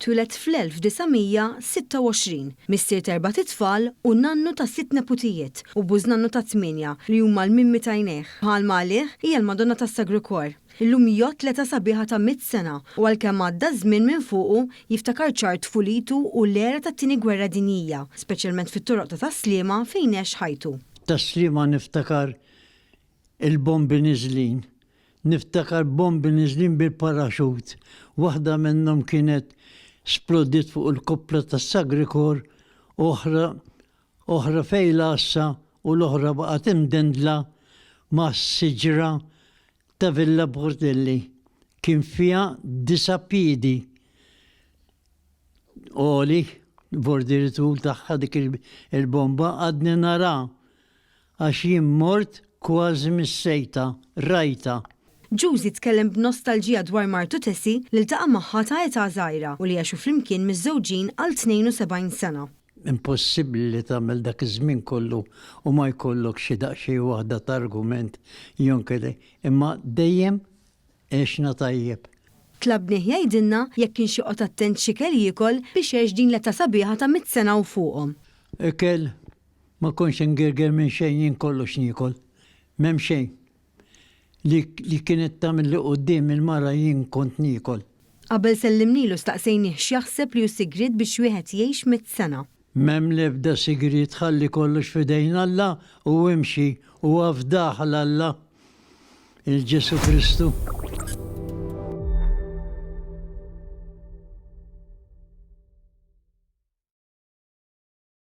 Twieled fl-1926, missier t'erbat itfal u nannu ta' sitt neputijiet u bużnannu ta' tmienja li huma l-mimmi t'għajnejh. Bħalma għalih, hija l-Madonna tas-Sagru Kor. Illum jgħodd l-età sabiħa ta' mitt sena u għalkemm għadda ż-żmien minn fuqu, jiftakar ċar tfulitu u l-era tat-Tieni Gwerra Dinjija, speċjalment fit-toroq ta' Tas-Sliema fejn għex ħajtu. Tas-Sliema niftakar il-bombi niżlin Niftakar bombi niżlin bil-paraxut, waħda minnhom kienet splodiet fuq il-koppla tas-Sagrikor, oħra oħra f'Għin l-Għassa u l-oħra baqgħet imdendla mas-siġra ta' Villa Portelli. Kien fiha disa' piedi għoli, bordieri tul tagħha dik il-bomba, għadni naraha Għax jien mort kważi mis-sejta, rajtha. Juzi tkellem b'nostalġija dwar martu Tessie li ltaqa' magħha ta' età żgħira u li għexu flimkien miżżewġin għal 72 sena. Impossibbli li tagħmel dak iż-żmien kollu u ma jkollok xi daqsxejn waħda ta' argument jew inkella imma dejjem għexna tajjeb. Tlabnieh jgħidilna jekk kienx joqgħod attent x'ikel jiekol biex għex din l-età sabiħa ta' mitt sena u fuqhom. Ikel Ma kontx ingirger minn xejn jien kollox niekol. M'hemm xejn li li kienet tagħmilli quddiem il-mara jien kont niekol. Qabel sellimnielu staqsejnih x'jaħseb li hu sigriet biex wieħed jgħix mitt sena. M'hemm l-ebda sigriet ħalli kollox f'idejn Alla u imxi u afdah għal Alla, il Ġesù Kristu.